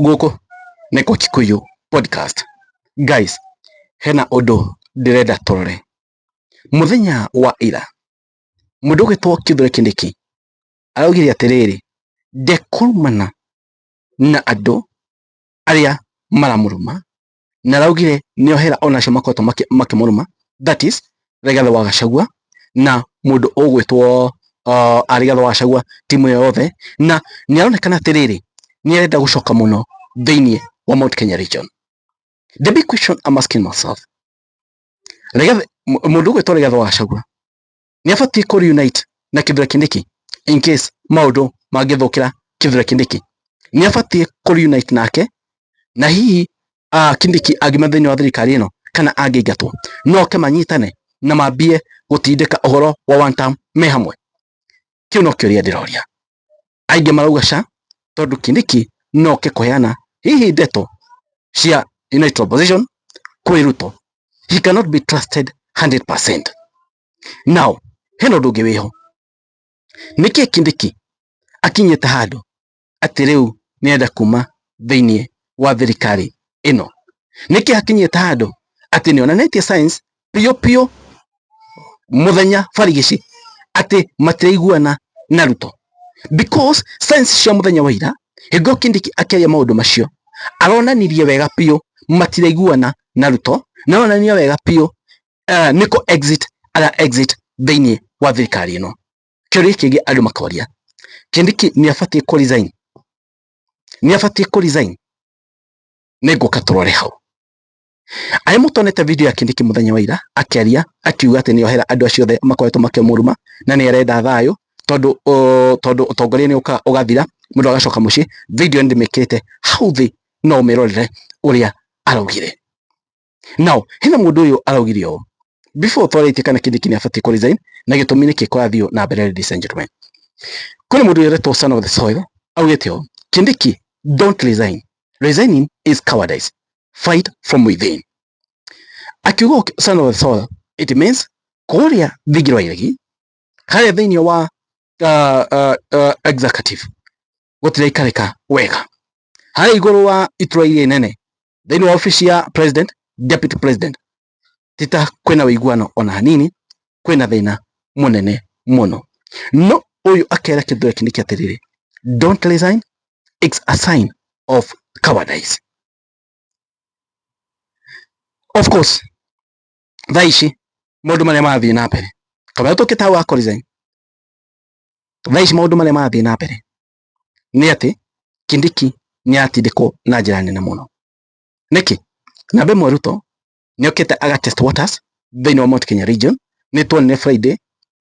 gũkũ nĩ Gũkikuyu Podcast. Guys, hena ũndũ ndĩrenda tũrore. Mũthenya wa ira, mũndũ ũgĩtwo Kithure Kindiki araugire atĩrĩrĩ, ndekumana na andũ arĩa maramũruma na araugire nĩ ohera onacio makoretwo makĩmũrũma that is Rigathĩ wa Gachagua na mũndũ ũgwĩtwo uh, Rigathĩ wa Gachagua timu ĩyo yothe na nĩ aronekana atĩrĩrĩ nĩ arenda gũcoka mũno thĩinĩ wa Mount Kenya region the big question I'm asking myself Rigathĩ mũndũ ũgwĩtwo Rigathĩ wa Gachagua nĩ abatiĩ kũ reunite na kĩthura kindiki in case maũndũ mangĩthũkĩra kĩthura kindiki nĩ abatiĩ kũ reunite nake na hihi uh, kindiki angiuma thĩinĩ wa thirikari ĩno kana angĩingatwo no oke manyitane na mambie gũtindĩka ũhoro wa one term me hamwe kĩu no kĩũria ndĩroria Aingĩ marauga Sha tondũ Kindiki no oke kũheana hihi ndeto cia United Opposition kwĩ Ruto. He cannot be trusted 100%. Now, hena ũndũ ũngĩ wĩho. Nĩkĩ Kindiki akinyĩte handũ atĩ rĩu nĩenda kuma thĩinĩ wa thirikari ĩno? Nĩkĩ akinyĩte handũ atĩ nĩonanĩtie signs biũ biũ mũthenya barigici atĩ matiraiguana na Ruto because signs cia mũthenya wa ira hingo Kindiki akĩaria maũndũ macio aronanirie wega biũ matiraiguana na Ruto na aronanirie wega biũ uh, nĩkũ exit ara exit thĩinĩ wa thirikari ĩno kĩũria kĩngĩ andũ makoria Kindiki nĩ abatiĩ kũ resign nĩ abatiĩ kũ resign nĩ ngũka tũrore hau Arĩ mũtonete video ya Kindiki mũthenya wa ira akĩaria akiuga atĩ nĩohera andũ acio othe makoretwo makĩmũruma na nĩarenda thayũ tondũ tondũ ũtongoria nĩ ũkaga ũgathira mũndũ agacoka mũciĩ. Video nĩndĩmĩkĩrĩte hau thĩ no ũmĩrorere ũrĩa araugire. Now hena mũndũ ũyũ araugire ũũ, before twarĩtie kana kĩndũ kĩnĩ abatiĩ kũ resign na gĩtũmi nĩkĩ kwathiĩ na mbere ladies and gentlemen kũrĩ mũndũ wĩretwo son of the soil augĩte ũũ kindiki don't resign resigning is cowardice fight from within akiuga ũki- son of the soil it means kũrĩa thingi rwa iregi harĩa thĩinĩ wa uh, uh, uh, executive gũtiraikarĩka wega harĩa igũrũ wa itura iria inene thĩinĩ wa ofici ya president deputy president ti ta kwĩna ũiguano ona hanini, kwĩna thĩna mũnene mũno. No ũyũ akera kĩndũ gĩkĩ nĩkĩ atĩrĩrĩ, don't resign, it's a sign of cowardice. Of course, thaa ici maũndũ marĩa marathiĩ na mbere, kamũira tũkĩte hau ha kũ resign, thaa ici maũndũ marĩa marathiĩ na mbere nĩ atĩ Kindiki nĩ aratindĩkwo na njĩra nene mũno. Nĩkĩ? Namba ĩmwe Ruto nĩokĩte aga test waters thĩinĩ wa Mount Kenya region, nĩtuonire Friday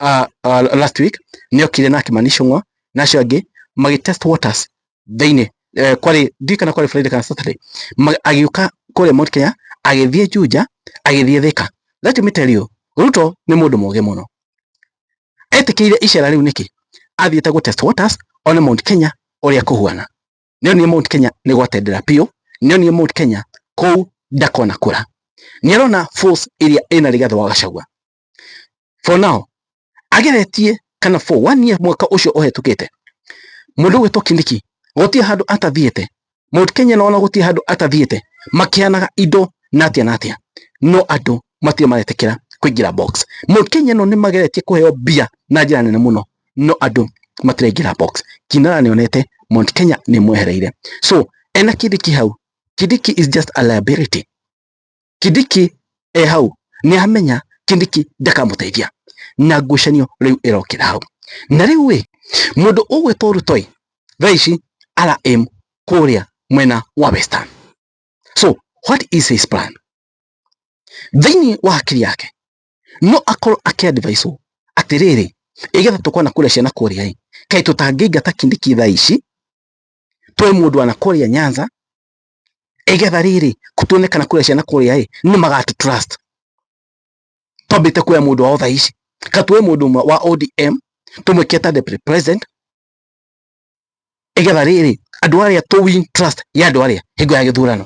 uh, uh, last week nĩokire na Kimani Ichung'wa na acio angĩ magĩ test waters thĩinĩ eh, kwarĩ ndiũĩ kana kwarĩ Friday kana Saturday agĩũka kũrĩa Mount Kenya agĩthiĩ Juja agĩthiĩ Thika let me tell you Ruto nĩ mũndũ mũgĩ mũno etĩkĩire icera rĩu nĩkĩ athiĩte gũ test waters one Mount Kenya ũrĩa kũhuana nĩonie Mount Kenya nĩ gwatendera biũ, nĩonie Mount Kenya kũu ndakona kũra. Nĩarona force ĩrĩa ĩna Rigathĩ wa Gachagua. For now, ageretie kana for one year mwaka ũcio ũhetũkĩte, mũndũ gwĩtwo Kindiki gũtirĩ handũ atathiĩte, Mount Kenya nona gũtirĩ handũ atathiĩte, makĩhanaga indo na atĩa na atĩa, no andũ matirĩ maretĩkĩra kũingĩra box. Mount Kenya ĩno nĩ mageretie kũheo mbia na njĩra nene mũno. no andũ matiraingĩra box. Kinara nĩ onete Mount Kenya nĩ mwehereire. So ena Kidiki hau, Kidiki is just a liability. Kidiki e hau nĩ amenya Kidiki ndakamũteithia na ngucanio rĩu ĩrokĩra hau. Na rĩu ĩ mũndũ ũgwĩtwo Ruto ĩ thaa ici ara aim kũrĩa mwena wa Western. So what is his plan? Thĩinĩ wa hakiri yake no akorwo akĩ advise atĩrĩrĩ ĩgetha tũkona kũrĩa ciana kũrĩa ĩ kaĩ tũtangĩingata kindiki thaa ici twe mũndũ ana kũrĩa nyanza ĩgetha rĩrĩ tuone kana kũrĩa ciana kũrĩa ĩ nĩ magatũ trust twambĩte kuoya mũndũ wao thaa ici ka tuoe mũndũ ũmwe wa ODM tũmwĩke ta deputy president ĩgetha rĩrĩ andũ arĩa tũ win trust ya andũ arĩa hingo ya gĩthurano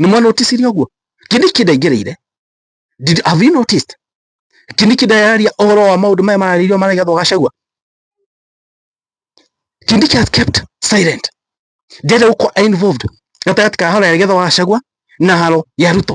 nĩ mwa notice ũguo kĩni kĩndĩ aingĩrĩire did have you noticed kĩni kĩndĩ araria ũhoro wa maũndũ maya mararĩirio maragethwo gacagua kĩni kĩ has kept silent ndĩrenda gũkorwo involved gatagatĩ ka haro ya gethwa gacagua na haro ya ruto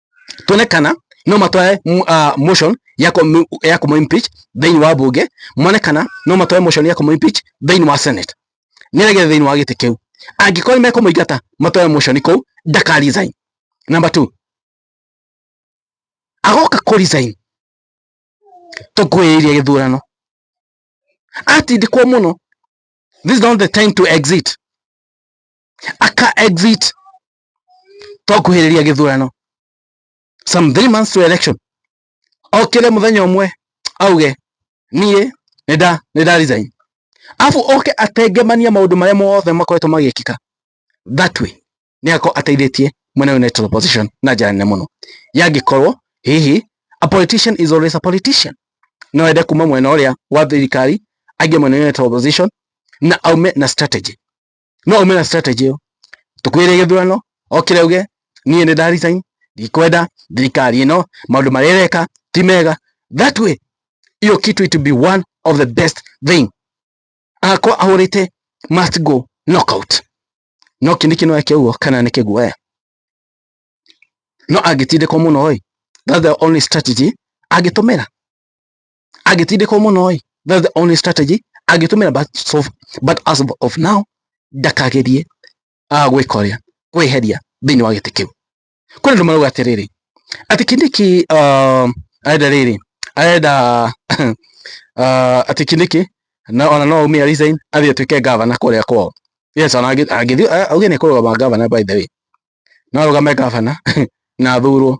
tuone kana no matware uh, motion ya kũ- ya kũmũ impeach thĩinĩ wa mbunge mone kana no matware motion ya kũmũ impeach thĩinĩ wa senate nĩ arege thĩinĩ wa gĩtĩ kĩu angĩkorwo nĩ mekũmũingata matware motion kũu ndaka resign number two agoka kũ resign tũkwĩrĩirie gĩthurano atindĩkwo mũno this is not the time to exit aka exit twakuhĩrĩria gĩthurano some three months to election okire muthenya umwe auge niĩ nĩnda nĩnda resign afu oke atengemania maundu maria mothe makoretwo magĩkĩka that way nĩ ako ateithĩtie mwena united opposition na njĩra nene mũno yangĩkorwo hihi a politician is always a politician no ende kuma mwena ũrĩa wa thirikari aingie mwena united opposition na aume na strategy no ume na strategy ĩyo tũkwĩre gĩthurano okĩre uge niĩ nĩ nda resign ndikwenda thirikari ĩno maũndũ marĩa ĩreka ti mega that way hiyo kitu it will be one of the best thing akwa ahũrĩte must go knockout no kĩndĩ kĩno eke ũguo kana nĩ kĩguoya no angĩtindĩkwo mũno ĩ that's the only strategy angĩtũmĩra agĩtindĩkwo mũno ĩ that's the only strategy angĩtũmĩra but, so, but as of now ndakagerie uh, gwĩka ũrĩa kwĩheria thĩinĩ wa gĩtĩ kĩu kwĩ andũ marauga atĩrĩrĩ atĩ kindiki uh, arenda rĩrĩ arenda uh, atĩ kindiki na ona no aumia resign athiĩ atuĩke gavana kũrĩa kwao yes ona angĩthiĩ auge nĩ kũrũgama gavana by the way no arũgame gavana na athurwo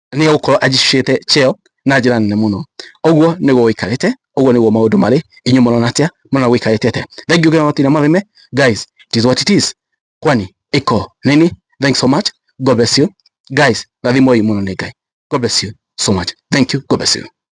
nĩ egũkorwo ajicicĩte cheo na njĩra nene mũno ũguo nĩguo wĩikarĩte ũguo nĩguo maũndũ marĩ inyuĩ mũrona atĩa mũrona gwĩikarĩte atĩa thank you very much marĩme guys it is what it is kwani iko nini thanks so much god bless you guys rathimoi mũno nĩ ngai god bless you so much thank you god bless you